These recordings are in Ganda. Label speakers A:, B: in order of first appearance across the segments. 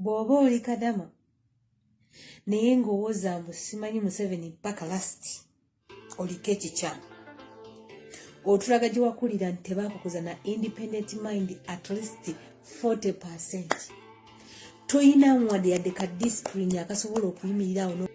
A: bw'oba oli kadama naye ng'owooza mbu simanyi museveni mpaka lasiti oliko ekikyamu otulaga gye wakulira nti tebakukuza na independent mind at least 40 percent toyina wadde yadde ka discipline akasobola okuyimirirawo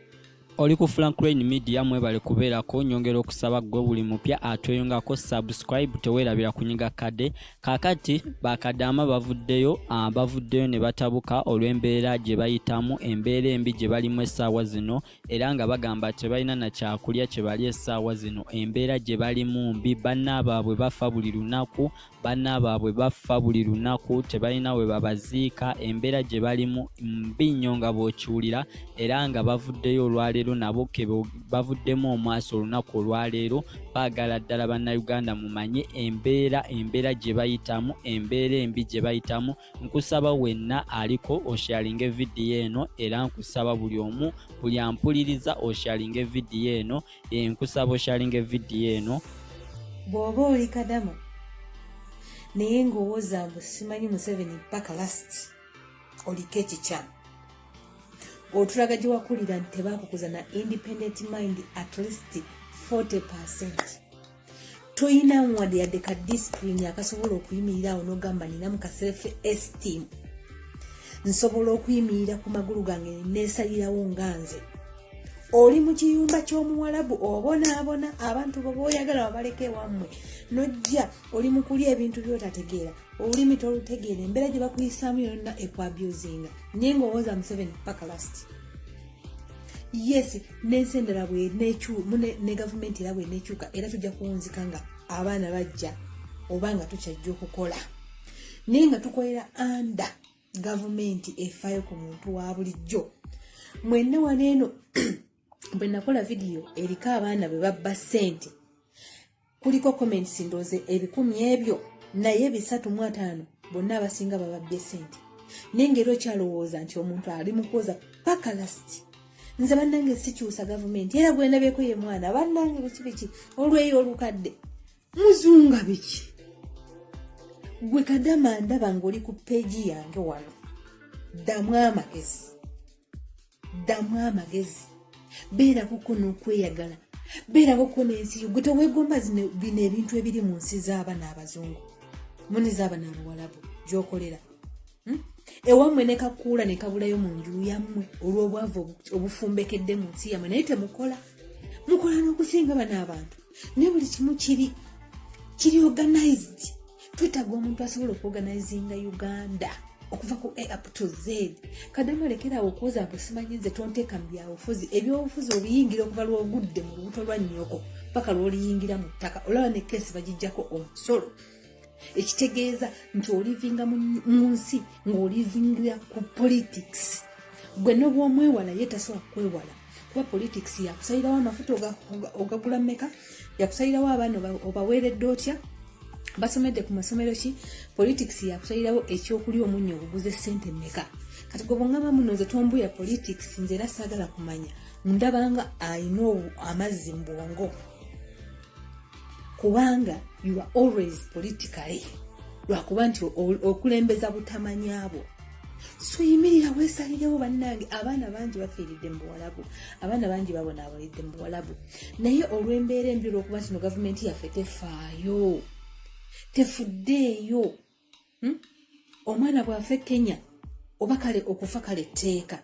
A: oli ku
B: franklin media mwebale kubeerako nyongera okusaba gwe buli mupya atweyungako subscribe tewerabira kunyiga kade kakati bakadaama bavuddeyo ah, bavuddeyo ne batabuka olw'embeera gye bayitamu embeera embi gye balimu essaawa zino era nga bagamba tebalina na kyakulya kye bali essaawa zino embeera gye balimu mbi banna baabwe bafa buli lunaku banna baabwe baffa buli lunaku tebalina we babaziika embeera gye balimu mbi nnyo nga bw'okiwulira era nga bavuddeyo olwaleero nabo ke bavuddemu omwaso olunaku olwaleero baagala ddala bannayuganda mumanye embeera embeera gye bayitamu embeera embi gye bayitamu nkusaba wenna aliko osharinge vidiyo eno era nkusaba buli omu buli ampuliriza osharinge vidiyo eno eh, nkusaba osharinga evidiyo eno bw'oba
A: oli kadama naye ng'owooza mbu simanyi museveni mpaka last oliko ekikyamu otulaga gye wakulira nti tebakukuza na independent mind at least 40 percent toyina wadde yadde ka discipline akasobola okuyimirira awo nogamba ninamu ka self esteem nsobola okuyimirira ku magulu gange nesalirawo nga nze oli mu kiyumba ky'omuwalabu obonaabona abantu bobaoyagala babaleka ewammwe nojja oli mukulya ebintu byotategeera olulimi tolutegeera embeera gye bakuyisaamu yonna ekwabusinga naye ngaowooza museveni paka lasiti yes nensi endala ne gavumenti era bwenekyuka era tujja kuwunzika nga abaana bajja oba nga tukyajja okukola naye nga tukolera anda gavumenti efaayo ku muntu wa bulijjo mwenna wano eno bwe nakola vidiyo eriko abaana bwe babba ssente kuliko comments ndoze ebikumi ebyo naye bisatu mu ataano bonna abasinga bababbye sente naye ngaera okyalowooza nti omuntu ali mukwoza paka lasiti nze bannange sikyusa gavumenti era gwendabyeko ye mwana bannange biki biki olweyo olukadde muzunga biki gwe kadama ndaba ng'oli ku peegi yange wano ddamu amagezi ddamu amagezi beerako ko n'okweyagala beerako ko n'ensi yo gwe teweegomba bino ebintu ebiri mu nsi z'abana abazungu muni z'abana abawalabu gyokolera hmm? ewammwe ne kakuula ne kabulayo mu nju yammwe olw'obwavu obufumbekedde mu nsi yammwe naye temukola mukola n'okusinga bana abantu naye buli kimu kiri kiri organized twetaaga omuntu asobola okuoganizinga uganda okuva ku a up to z kadama lekerawo okwoza mbu simanyi nze tonteeka mu byabufuzi ebyobufuzi obiyingira okuva lwogudde mu lubuto lwa nnyoko paka lwoliyingira mu ttaka olaba ne keesi bagijjako omusolo ekitegeeza nti olivinga mu nsi ng'olivingira ku politics gwe nobwomwewala ye tasobola kukwewala kuba politics yakusalirawo amafuta ogagula meka yakusalirawo abaana obaweeredde otya basomedde ku masomero ki politics yakusalirawo ekyokulya omunya oguguze sente meka kati gwe bwongamba muno nze tombuya politics nze era saagala kumanya ndabanga alina amazzi mu bwongo kubanga you are always politically lwakuba nti okulembeza butamanyabwo so yimirira wesalirewo bannange abaana bangi bafiiridde mu buwalabu abaana bangi babonaabalidde mu buwalabu naye olw'embeera embi olwokuba nti no gavumenti yaffe tefaayo tefuddeeyo hmm? omwana bwafe kenya oba kale okufa kale tteeka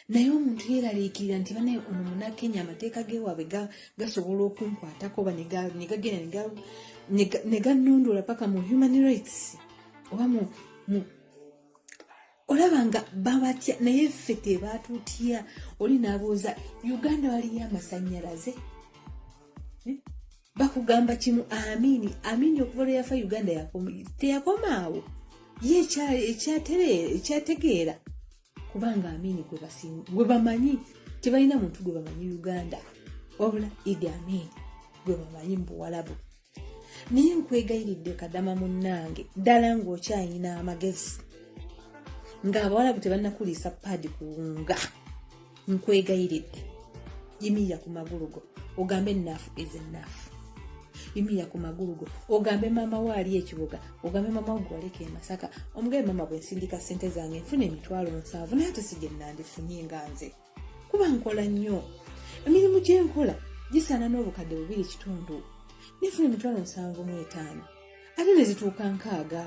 A: naye omuntu yeeraliikirira nti banaye ono munakenya amateeka gewaabwe gasobola okunkwatako oba negagenda neganondoola paka mu human rights oba mu olaba nga babatya naye ffe tebaatutya oli nabuuza uganda waliyo amasanyalaze eh? bakugamba kimu amini amini okuva lwe yafa uganda teyakomaawo ye ekyategeera kubanga amiini gwe bamanyi tebalina muntu gwe bamanyi uganda wabula idi amiini gwe bamanyi mu buwalabu naye nkwegayiridde kadama munnange ddala ng'okyalina amagezi ng'abawalabu tebanakuliisa paadi kuwunga nkwegayiridde yimirira ku magulu go ogambe enaafu is enaafu yimirira ku magulu go ogambe maama wo ali ekibuga ogambe maama wo gwaleka emasaka omugabe maama bwensindika sente zange nfuna emitwalo nsanvu naye ate sigyenandifunye nga nze kuba nkola nnyo emirimu gyenkola gisaana n'obukadde bubiri kitundu nefuna emitwalo nsanvu mu etaano ate ne zituuka nkaaga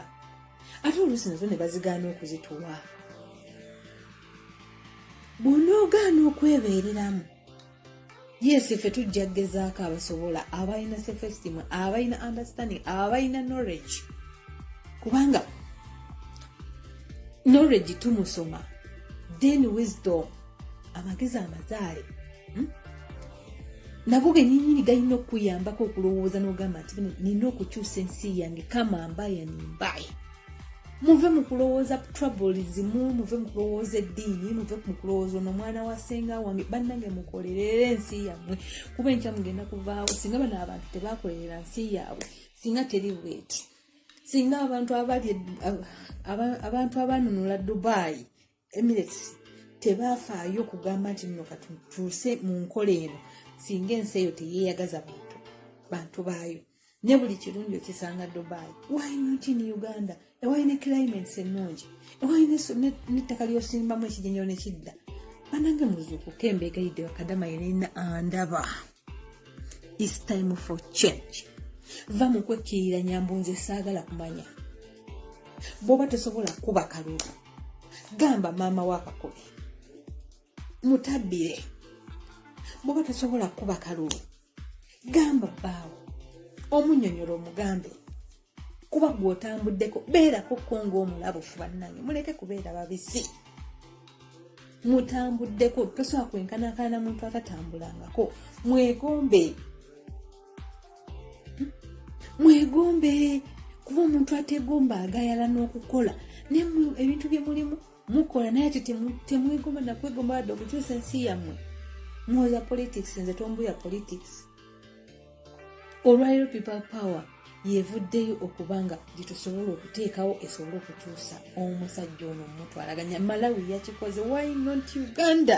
A: ate oluusi nazo ne bazigaana okuzituwa bw'onoogaana okwebeereramu yesi ffe tujja kugezaako abasobola abalina sefesitimu abalina understanding abalina knowledge kubanga knowledge tumusoma then wisdom amagezi amazaale hmm? nago genyini galina okukuyambako okulowooza n'ogamba nti nina okukyusa ensi yange kama mbaye nimbaye muve mu kulowooza troubles mu muve mu kulowooza eddiini muve mu kulowooza ono omwana wa senga wange bannange mukolerere ensi yammwe kuba enkya mugenda kuvaawo singa bano abantu tebakolerera nsi yaabwe singa teri bweti singa abantu abali abantu abanunula dubai emirates tebaafaayo kugamba nti nno katutuuse mu nkola eno singa ensi eyo teyeeyagaza bantu bantu baayo ne buli kirungi okisanga dubai why not in uganda ewalina climates ennungi ewalina nettaka lyosimbamu ekijenyero nekidda banange muzuukuka embeegayidde bakadama yenina andaba is time for change va mu kwekkirira nyambunze saagala kumanya bwoba tosobola kuba kalulu gamba maama wakakobe mutabbire bwoba tosobola kukuba kalulu gamba bbaawo omunyonyola omugambe kuba gwe otambuddeko beerako ko ngaomulabufu bannange muleke kubeera babisi mutambuddeko tosobola kwenkanakana na muntu atatambulangako mwegombe mwegombe kuba omuntu ategomba agayala n'okukola naye ebintu bye mulimu mukola naye ati temwegomba nakwegomba wadde okukyusa ensi yammwe muwoza politics nze tombuya politics olwaliro people power yevuddeyo okuba nga gyetusobola okuteekawo esobole okukyusa omusajja ono omutwalaganya malawi yakikoze why not uganda